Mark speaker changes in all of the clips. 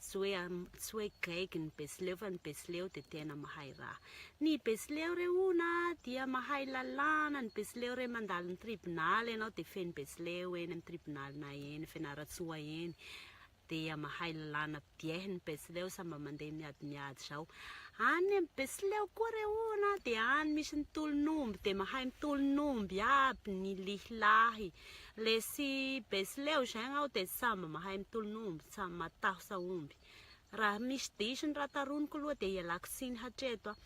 Speaker 1: Tsy hoe am, tsy hoe gaigy ny Betsileo fa ny Betsileo dia tena mahay raha. Ny Betsileo re hono a, dia mahay lalàna, ny Betsileo re mandalo ny tribonaly ianao dia feno Betsileo eny amin'ny tribonalinay eny, Fianarantsoa eny, dia mahay lalàna bieh ny Betsileo, sa mba mandeha miady miady izao. Any amin'ny Betsileo koa re hono a, dia any misy ny tolon'omby dia mahay mitolon'omby aby ny lehilahy, Lesy besy leo zegny aho de samby mahay mitolon'omby, samby matahosa omby. Raha misy diso ny raha taroniko aloha dia ialako tsiny hatreto a.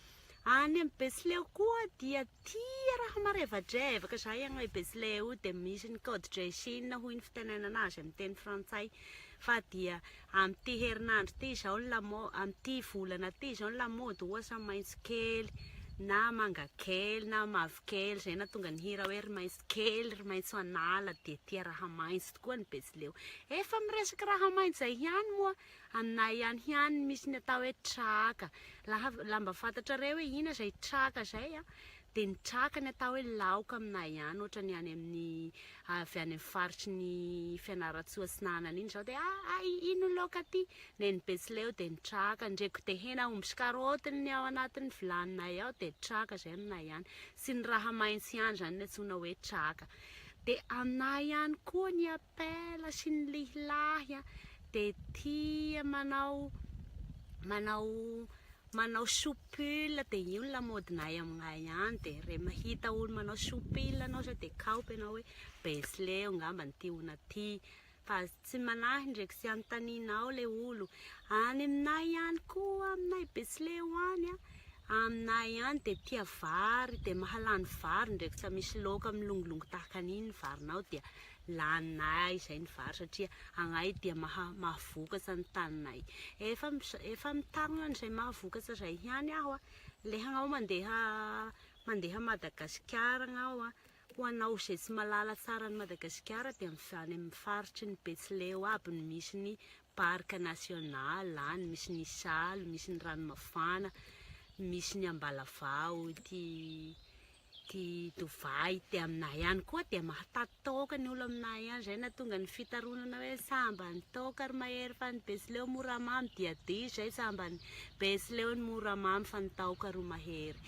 Speaker 1: Any amin'ny betsileo koa dia tia raha marevadrevaka izay agny le betsileo dia misy ny code de chine hoy ny fitenenana azy amin'ny teny frantsay fa dia amin'ity herinandro ity izao ny lamo- amin'ity volana ity izao ny lamaody ohatra maitso kely na manga kely na mavokely izay nahatonga ny hira hoe ry maitso Kely ry maitso an'ala dia tia raha maitso tokoa ny betsileo. Efa miresaka raha maitso izay ihany moa aminay any ihany misy ny atao hoe traka. Laha mba fantatrareo hoe inona izay traka izay a, dia ny traka ny atao hoe laoka aminay ihany ohatra ny any amin'ny avy any amin'ny faritry ny Fianarantsoa Atsinanana iny izao dia ah ah ino ny laoka aty? Nen'ny betsileo dia ny traka, ndreko dia hena omby sy karaoty ny ao anatin'ny vilaninay ao dia traka izay aminay any. sy ny raha maintsy ihany izany ny antsoina hoe traka dia aminà ihany koa ny appel sy ny lihilahy dia tia manao manao manao soupil dia io ny lamodinay aminay ihany dia re mahita olo manao soupil anao zao dia kaopy ianao hoe besleo ngamba ny tiona ty Base tsy manahy ndreky tsy anontanianao le olo any aminay any koa aminay betsileo any a aminay any de tia vary de mahalany vary ndreky tsa misy loaka milongilongy tahaka an'iny ny varinao dia laninay zay ny vary satria agnay dia maha mahavokatsa ny taninay efa efa mitarogna an'izay mahavokatsa zay ihany aho a le hagnao mandeha mandeha madagasikara agnao a Ho anao izay tsy malala tsara an'i Madagasikara dia any amin'ny faritry ny Betsileo aby no misy ny Parc national, any misy ny isalo, misy ny ranomafana, misy ny ambalavao, ity ity Dovay ity aminay any koa dia mahataty taoka ny olo aminay any, izay no nahatonga ny fitaronana hoe sambany taoka ry mahery fa ny Betsileo moramamy dia diso izay sambany be sy leo ny mora mamy fa ny tahoka ro mahery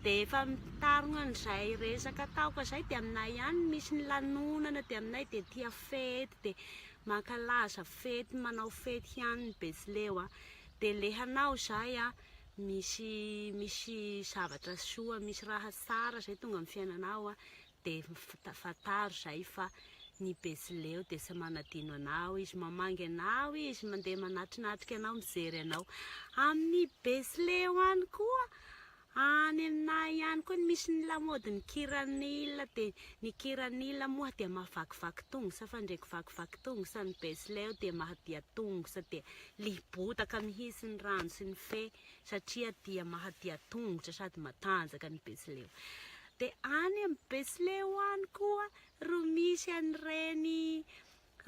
Speaker 1: dia efa mitarogna an'izay resaka tahoka zay dia aminay ihany misy ny lanonana dia aminay dia tia fety dia mankalaza fety manao fety ihany ny be sy leo a dia le hanao zay a misy misy zavatra soa misy raha tsara zay tonga amin'ny fiainanao a dia fantaro izay fa ny Betsileo dia tsy manadino anao izy, mamangy anao izy, mandeha manatrinatrika anao, mijery anao. Amin'ny Betsileo any koa, any aminay ihany koa no misy ny lamaodin'ny kiranila, dia ny kiranila moa dia mahavakivaky tongotra fa ndrey kivakivaky tongotra, ny Betsileo dia mahadia tongotra, dia liam-botaka mihitsy ny rano sy ny fe satria dia mahadia tongotra sady matanjaka ny Betsileo. De any am besleo any koa ro misy an reny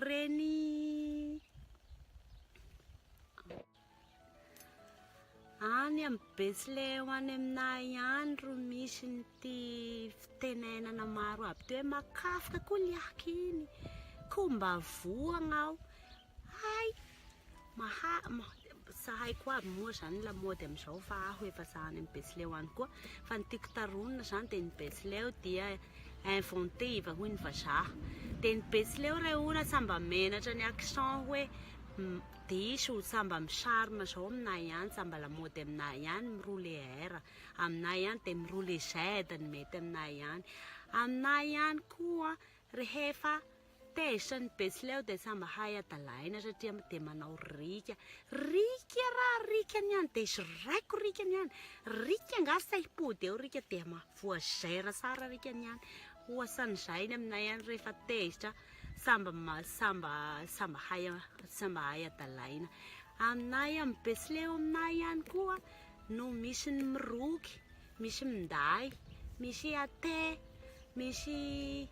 Speaker 1: reny any am besleo any aminay any ro misy nty fitenenana maro aby toy hoe makafka koa liaka iny ko mba vohagna aho Hay! Maha Sahiko aby moa zany lamaody amizao fa aho efa za any am betsileo any koa fa ny tiako taronina zany de ny betsileo dia inventive hoy ny vazaha de ny betsileo ray ora sa mba menatra ny accent hoe diso sa mba mi charme zao aminay any sa mba lamaody aminay any mi rouler R aminay any de mi rouler Z ny mety aminay any aminay any koa rehefa Tezitra ny betsileo dia tsa mahay adalaina satria dia manao rika. Rika ra rika ny any dia zoraiko rika ny any. Rika nga sa hipody eo rika dia ma voazaira sara rika ny any. Hoasan'izay ny aminay any rehefa tezitra samba samba samba hay samba hay adalaina. Aminay any betsileo aminay any koa no misy ny miroky. Misy minday, misy ate, misy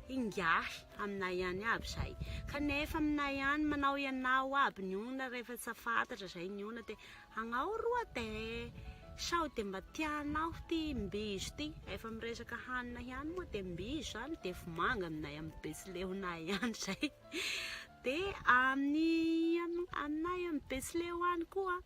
Speaker 1: ingahy aminay ihany aby zay. Kanefa aminay any manao ianao aby ny olona rehefa tsy fantatra zay ny olona de agnao ro ate sao de mba tianao ty mbizo ty, efa miresaka hanina ihany moa de mbizo zany de vomanga aminay am betsilehonay any zay, de amin'ny aminay am betsileo any koa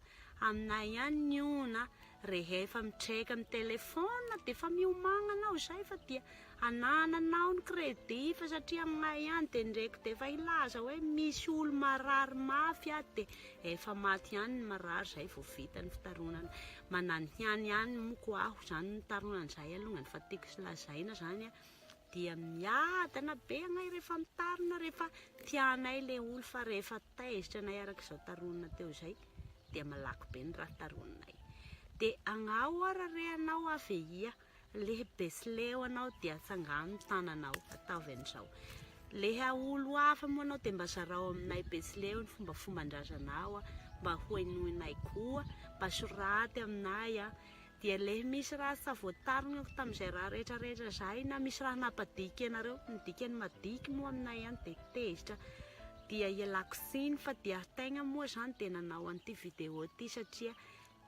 Speaker 1: Aminay ihany ny ona rehefa mitreka amin'ny telephone dia efa miomagna anao izay fa dia anananao ny crédit fa satria aminay ihany dia ndreko dia efa hilaza hoe misy olo marary mafy ato dia efa maty ihany ny marary zay vao vita ny fitaronana mananhiany ihany moko aho zany mitaronana zay alongany fa tiako lazaina zany dia miadana be anay rehefa mitarina rehefa tianay le olo fa rehefa taizitra anay araka izao taronina teo izay dia malaky be ny raha taroninay dia angao ara re anao avehia le besileo anao dia tsangano ny tananao ataovy an'izao le olo hafa moa anao dia mba zarao aminay besileo ny fomba fomban-drazanao mba hoenoinay koa mba soraty aminay a dia lehy misy raha tsa voatarinako tamin'izay raha rehetra rehetra izahay na misy raha nampadiky anareo, ny dikany madiky moa aminay any dia tezitra, dia ialako tsiny fa dia tegna moa izany dia nanao an'ity vidéo ity satria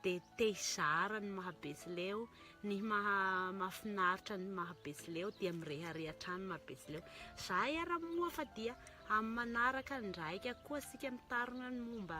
Speaker 1: dia te hizara ny maha betsileo, ny maha mahafinaritra ny maha betsileo dia mirehareha hatrany maha betsileo, zahay ara moa fa dia amin'ny manaraka ndraika koa tsika mitarina ny momba.